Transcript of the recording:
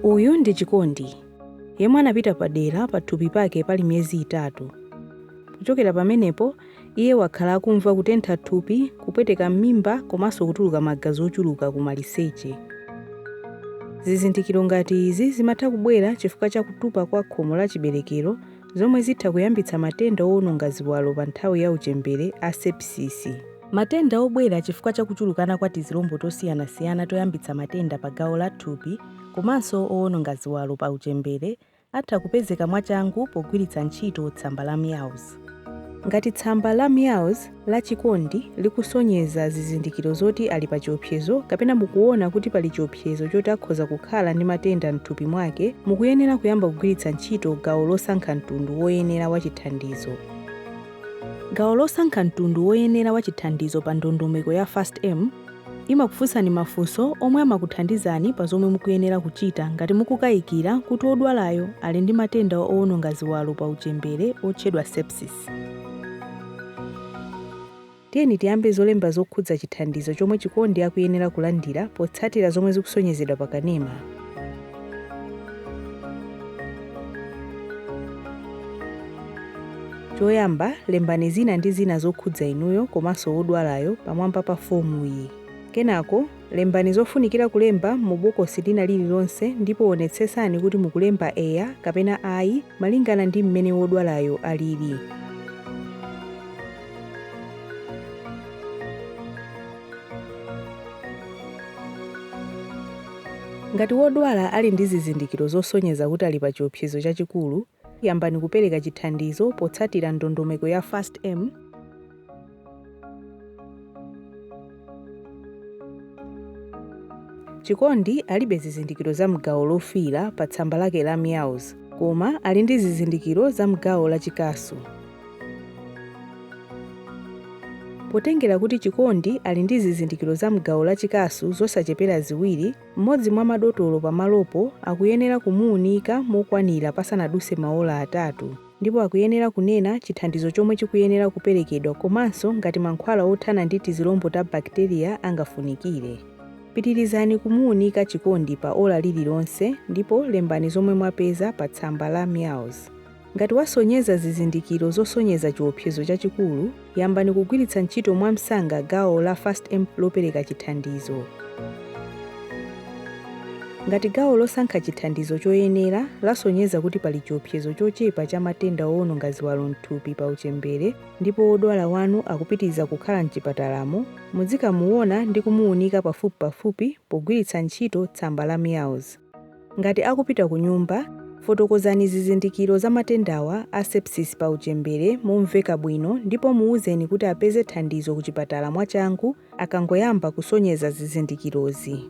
Uyu ndi Chikondi, yemwe anapita padera pathupi pake pali miyezi itatu. Kuchokera pamenepo, iye wakhala akumva kutentha thupi, kupweteka m'mimba komanso kutuluka magazi ochuluka kumaliseche. Zizindikiro ngati izi zimatha kubwera chifukwa cha kutupa kwa khomo la chiberekero zomwe zitha kuyambitsa matenda owononga ziwalo pa nthawi ya uchembere a sepsisi. Matenda obwera chifukwa cha kuchulukana kwa tizilombo tosiyanasiyana toyambitsa matenda pa gawo la thupi komanso owononga ziwalo pa uchembere atha kupezeka mwachangu pogwiritsa ntchito tsamba la MEOWS. Ngati tsamba la MEOWS la Chikondi likusonyeza zizindikiro zoti ali pa chiopsezo kapena mukuona kuti pali chiopsezo choti akhoza kukhala ndi matenda m'thupi mwake, mukuyenera kuyamba kugwiritsa ntchito gawo losankha mtundu woyenera wa chithandizo. Gawo losankha mtundu woyenera wa chithandizo pa ndondomeko ya FAST-M imakufunsani mafunso omwe amakuthandizani pa zomwe mukuyenera kuchita ngati mukukayikira kuti wodwalayo ali ndi matenda owononga ziwalo pa uchembere otchedwa sepsis. Tiyeni tiyambe zolemba zokhudza chithandizo chomwe Chikondi akuyenera kulandira potsatira zomwe zikusonyezedwa pa kanema. Choyamba, lembani dzina ndi zina zokhudza inuyo komanso wodwalayo pamwamba pa fomuyi. Kenako, Lembani zofunikira kulemba mu bokosi lina lililonse ndipo wonetsetsani kuti mukulemba eya kapena ayi malingana ndi mmene wodwalayo alili. Ngati wodwala ali ndi zizindikiro zosonyeza kuti ali pa chiopsezo chachikulu, Yambani kupereka chithandizo potsatira ndondomeko ya FAST-M. Chikondi alibe zizindikiro za m'gawo lofiira pa tsamba lake la MEOWS, koma ali ndi zizindikiro za m'gawo la chikasu. Potengera kuti Chikondi ali ndi zizindikiro za m'gawo la chikasu zosachepera ziwiri, Mmodzi mwa madotolo pamalopo akuyenera kumuunika mokwanira pasanaduse maola atatu ndipo akuyenera kunena chithandizo chomwe chikuyenera kuperekedwa komanso ngati mankhwala othana ndi tizilombo ta bakiteriya angafunikire. Pitirizani kumuunika Chikondi pa ola lililonse ndipo lembani zomwe mwapeza pa tsamba la MEOWS. Ngati wasonyeza zizindikiro zosonyeza chiopsezo chachikulu, yambani kugwiritsa ntchito mwamsanga gawo la FAST-M lopereka chithandizo. Ngati gawo losankha chithandizo choyenera lasonyeza kuti pali chiopsezo chochepa cha matenda owononga ziwalo m'thupi pa uchembere ndipo wodwala wanu akupitiriza kukhala m'chipatalamo, mudzikamuona ndi kumuunika pafupipafupi pogwiritsa ntchito tsamba la MEOWS. Ngati akupita kunyumba, fotokozani zizindikiro za matendawa a sepsis pa uchembere momveka bwino ndipo muuzeni kuti apeze thandizo kuchipatala mwachangu akangoyamba kusonyeza zizindikirozi.